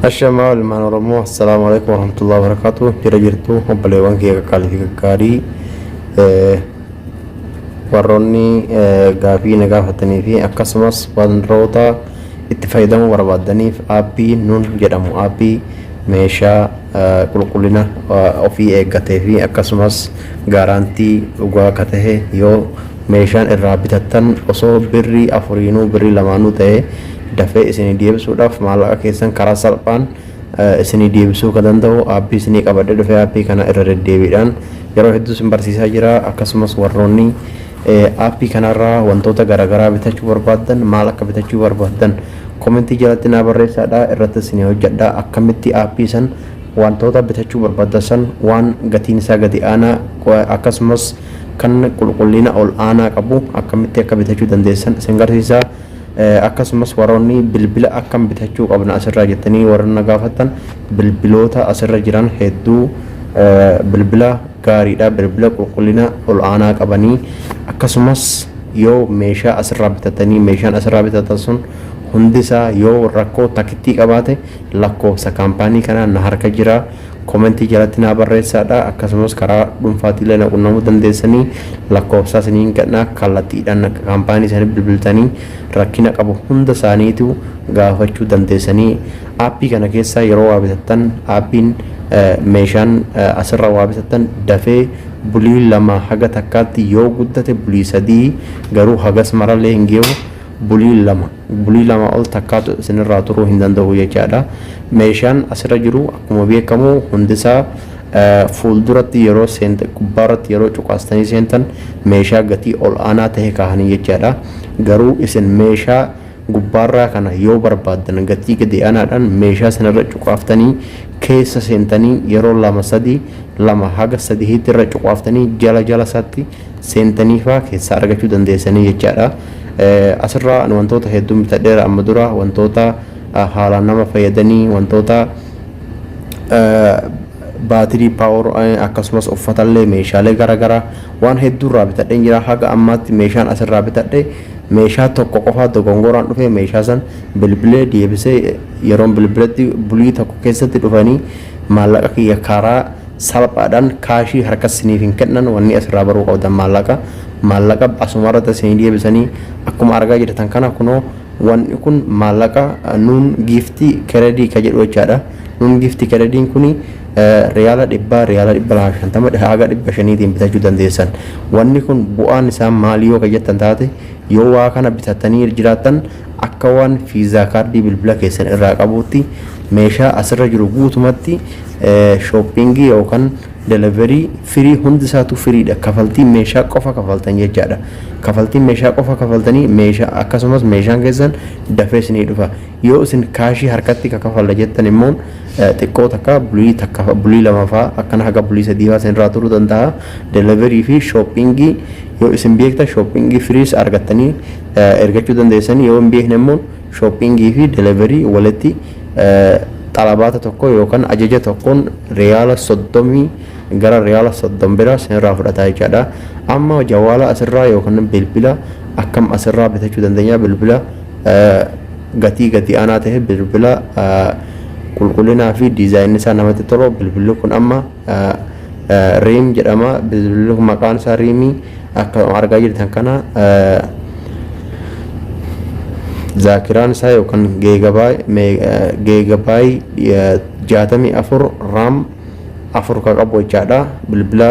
Ashamaa ilmaan Oromoo assalaamu alaikum warahmatullahi wabarakatuh jira jirtu obboleewwan kee qaqqaalii fi gaggaarii eh, warroonni eh, gaafii na gaafatanii fi akkasumas wantoota itti fayyadamuu barbaadaniif aappii nun jedhamu aappii meeshaa qulqullina ofii eeggatee fi akkasumas gaaraantii dhugaa ka tahe yoo meeshaan irraa bitattan osoo birrii afuriinuu birrii lamaanuu tahe dafee isinii deebisuudhaaf maallaqa keessan karaa salphaan isinii deebisuu ka danda'u aappii isinii qabadhee dhufee aappii kana irra deddeebiidhaan yeroo hedduu isin barsiisaa jira akkasumas warroonni aappii kanarraa wantoota garaagaraa bitachuu barbaaddan maal akka bitachuu barbaaddan Comment jalatti naa barreessaa dha irratti isinii hojjadha akkamitti app san wantoota bitachuu barbaaddan san waan gatiin isaa gadi aanaa akkasumas kan qulqulliina ol aanaa qabu akkamitti akka bitachuu dandeessan isin garsiisa akkasumas warroonni bilbila akkam bitachuu qabna asirraa jettanii warra na gaafattan bilbiloota asirra jiran hedduu bilbila gaariidha bilbila qulqullina ol aanaa qabanii akkasumas yoo meeshaa asirraa bitatanii meeshaan asirraa bitatan sun hundisaa yoo rakkoo takittii qabaate lakkoofsa kaampaanii kanaa na harka jira komentii jalatti naa barreessaadha akkasumas karaa dhuunfaatiillee na qunnamuu dandeessanii lakkoofsaa isiniin gadhnaa kallattiidhaan kaampaanii isaanii bilbiltanii rakkina qabu hunda isaaniitu gaafachuu dandeessanii Aappii kana keessaa yeroo waa bitattan aappiin meeshaan asirra waa bitattan dafee bulii lama haga takkaatti yoo guddate bulii sadii garuu hagas marallee hin geewu bulii lama bulii lama ol takkaatu isinirraa turuu hin danda'u jechaadha. Meeshaan asirra jiru akkuma beekamu hundisaa fuulduratti yeroo seentan gubbaarratti yeroo cuqaastanii seentan meeshaa gatii ol aanaa ta'e kaahanii jechaadha. Garuu isin meeshaa gubbaarraa kana yoo barbaaddan gatii gadi aanaadhaan meeshaa sanarra cuqaaftanii keessa seentanii yeroo lama sadii lama haga sadihiitti irra cuqaaftanii jala jala isaatti seentanii faa keessaa argachuu dandeessanii jechaadha. Asirraa ani wantoota hedduun bitadheera amma dura wantoota haalaan nama fayyadanii wantoota baatirii paawar akkasumas uffatallee meeshaalee garaagaraa Waan hedduu irraa bitadheen jira haga ammaatti meeshaan as irraa bitadhe meeshaa tokko qofaa dogongoraan dhufee meeshaa san bilbilee deebisee yeroon bilbiletti bulii tokko keessatti dhufanii maallaqa kiyya karaa salphaadhaan kaashii harkas siniif hin kennan wanni as irraa baruu qabdan maallaqa maallaqa asuma irratti isinii deebisanii akkuma argaa jirtan kana kunoo wanni kun maallaqa nuun giiftii keredii ka jedhu jechaadha nuun giiftii kerediin kuni Riyaala dhibbaa, riyaala dhibba lamaa fi shantama dhahaa haga dhibba shaniitiin bitachuu dandeessan. Wanni kun bu'aan isaa maali yoo ka jettan taate, yoo waa kana bitattanii jiraattan akka waan fiizaa kaardii bilbila keessan irraa qabuutti meeshaa asirra jiru guutumatti shooppingii yookaan deliverii firii hundi isaatu firiidha. Kafaltii meeshaa qofa kafaltan jechaadha. Kafaltii meeshaa qofa kafaltanii meeshaa akkasumas meeshaan keessan dafee isinii dhufa. Yoo isin kaashii harkatti ka kafalla jettan immoo xiqqoo takka bulii takka bulii lama faa akkana haga bulii sadii faa isinirraa turuu danda'a. Delivery fi shopping yoo isin beektan shopping firiis argattanii ergachuu dandeessan yoo hin beekne immoo shopping fi delivery walitti xalabaata tokko yookaan ajaja tokkoon riyaala soddomii gara riyaala soddom bira isinirraa fudhataa jechaadha. Amma jawaala asirraa yookaan bilbila akkam asirraa bitachuu dandeenya bilbila gatii gadi aanaa ta'e bilbila qulqullinaa fi diizaayinni isaa namatti tolu bilbilli kun amma riim jedhama bilbilli kun maqaan isaa riimii akka argaa jirtan kana zaakiraan isaa yookaan geegabaay jaatamii afur raam afur ka qabu jechaadha bilbila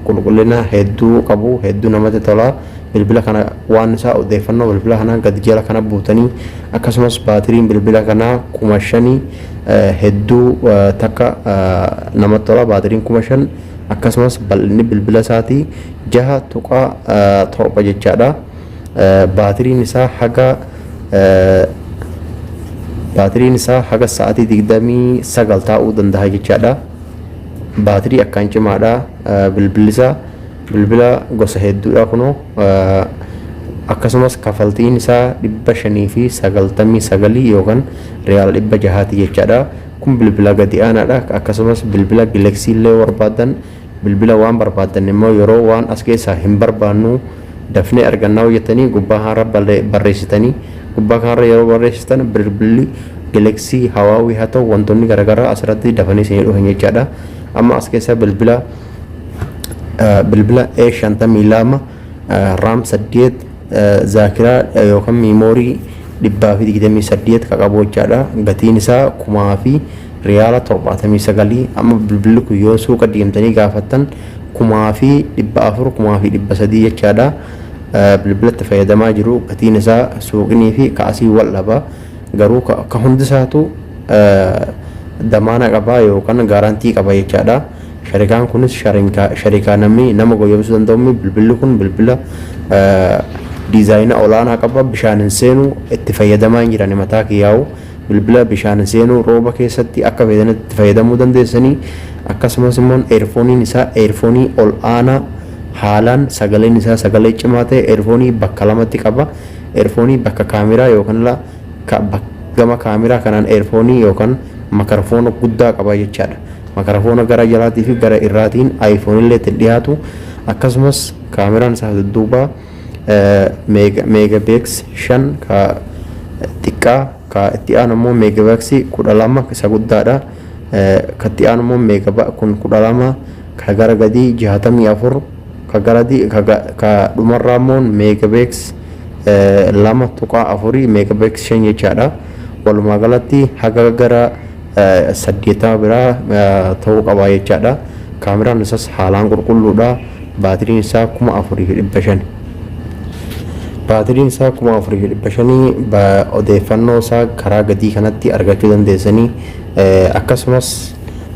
qulqullina hedduu qabu hedduu namatti tola bilbila kana waan isaa odeeffannoo bilbila kanaa gadi jala kana buutanii akkasumas baatiriin bilbila kanaa kuma shanii hedduu takka namatti tola baatiriin kuma shan akkasumas bal'inni bilbila isaatii jaha tuqaa torba jechaadha. Baatiriin isaa haga baatiriin isaa haga sa'aatii 29 taa'uu danda'a jechaadha. Baatirii akkaan cimaadha bilbilli isaa bilbila gosa hedduudha kunoo akkasumas kafaltiin isaa 599 yookaan riyaal 600 jechaadha. Kun bilbila gadi aanaadha akkasumas bilbila gileksii illee barbaadan Bilbila waan barbaaddan immoo yeroo waan as keessaa hin barbaannuu dafnee argannaa yoo jettanii gubbaa kanarra barreessitanii gubbaa kanarra yeroo barreessitan bilbilli Galaxy Hawaawii haa ta'u wantoonni garaagaraa asirratti dafanii isinii dhufan jechaadha. Amma as keessaa bilbila bilbila A52 RAM 8 Zaakiraa yookan miimoorii 128 ka qabu hojjaadha. Gatiin isaa kumaa fi riyaala 79 amma bilbilli kun yoo suuqa deemtanii gaafattan kumaa fi 400 kumaa fi 300 jechaadha. Bilbila itti fayyadamaa jiru gatiin isaa suuqinii fi ka asii wal dhaba. Garuu ka hundisaatu damaana qaba yookan gaaraantii qaba jechaadha. Sharikaan kunis sharikaa namni nama goyyomsuu danda'uumi. Bilbilli kun bilbila diizaayina olaanaa qaba. Bishaan hin seenu. Itti fayyadamaa hin jirani mataa kiyyaa'u. Bilbila bishaan hin seenu rooba keessatti akka feetanitti itti fayyadamuu dandeessanii. Akkasumas immoo eerfooniin isaa eerfoonii ol aanaa haalaan sagaleen isaa sagalee cimaa ta'e eerfoonii bakka lamatti qaba. Eerfoonii bakka kaameraa yookaan gama kaameraa kanaan eerfoonii yookaan makarafoona guddaa qaba jechaadha. Makarafoona gara jalaatii fi gara irraatiin iPhone illee ittiin dhiyaatu akkasumas kaameraan isaa dudduubaa meegabeeks shan ka xiqqaa ka itti aanu immoo meegabeeksii kudha lama isa guddaadha. Ka itti aanu immoo meegaba kun kudha lama ka gara gadii jaatamii afur Ka gara di- ka ga- ka dhumarraa immoo megabex eh, 2.4 megabex 5 jechaadha. Walumaa galatti haga gara eh, 80 biraa eh, ta'uu qaba jechaadha. Kaameraan isas haalaan qulqulluudha. Baatiriin isaa 4500. Baatiriin isaa 4500 ba- odeeffannoo isaa karaa gadii kanatti argachuu dandeessanii eh, akkasumas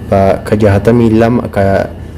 ba- ka 62 ka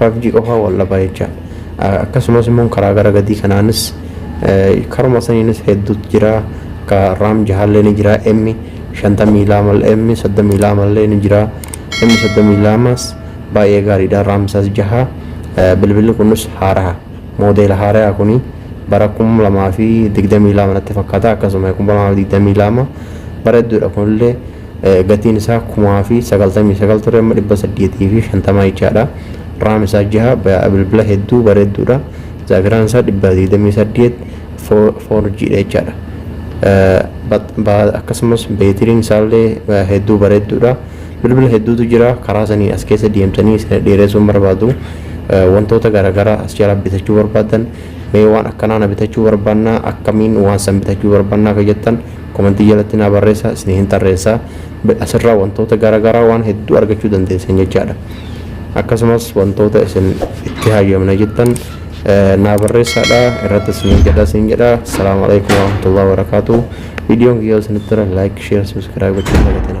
5G qofaa wal dhabaa jecha. Akkasumas immoo karaa gara gadii kanaanis karuma saniinis hedduutu jira. Ka raam jahaallee ni jira. M shantamii lama M soddomii lama illee ni jira. M soddomii lamas baay'ee gaariidha. Raam isaas jaha. Bilbilli kunis haaraha. Moodeela haarayaa kuni bara kuma lamaa fi digdamii lama natti fakkaata. Akkasuma kuma lamaa fi digdamii lama bareedduudha kunillee. Gatiin isaa 99900 ture amma 850 jechaadha. Raam isaa 6 bilbila hedduu bareedduudha. Zaakiraan isaa 128 4G dha jechaadha. Akkasumas beetiriin isaallee hedduu bareedduudha. Bilbila hedduutu jira karaa sanii as keessa deemtanii isin dheeressuun barbaadu. Wantoota garaagaraa as jalaa bitachuu barbaadan mee waan akkanaa na bitachuu barbaannaa akkamiin waan san bitachuu barbaannaa akka jettan Komentii jalatti naa barreessaa isinihin tarreessa. Asirraa wantoota gara garaa waan hedduu argachuu dandeessan jechaadha. Akkasumas wantoota isin itti hayyamna jettan naa barreessaadha irratti isiniin jedha isin jedha. Assalaamu alaikum warahmatullahi wabarakatuh. Viidiyoon kiyya isinitti tole like, share, subscribe gochuun dagatina.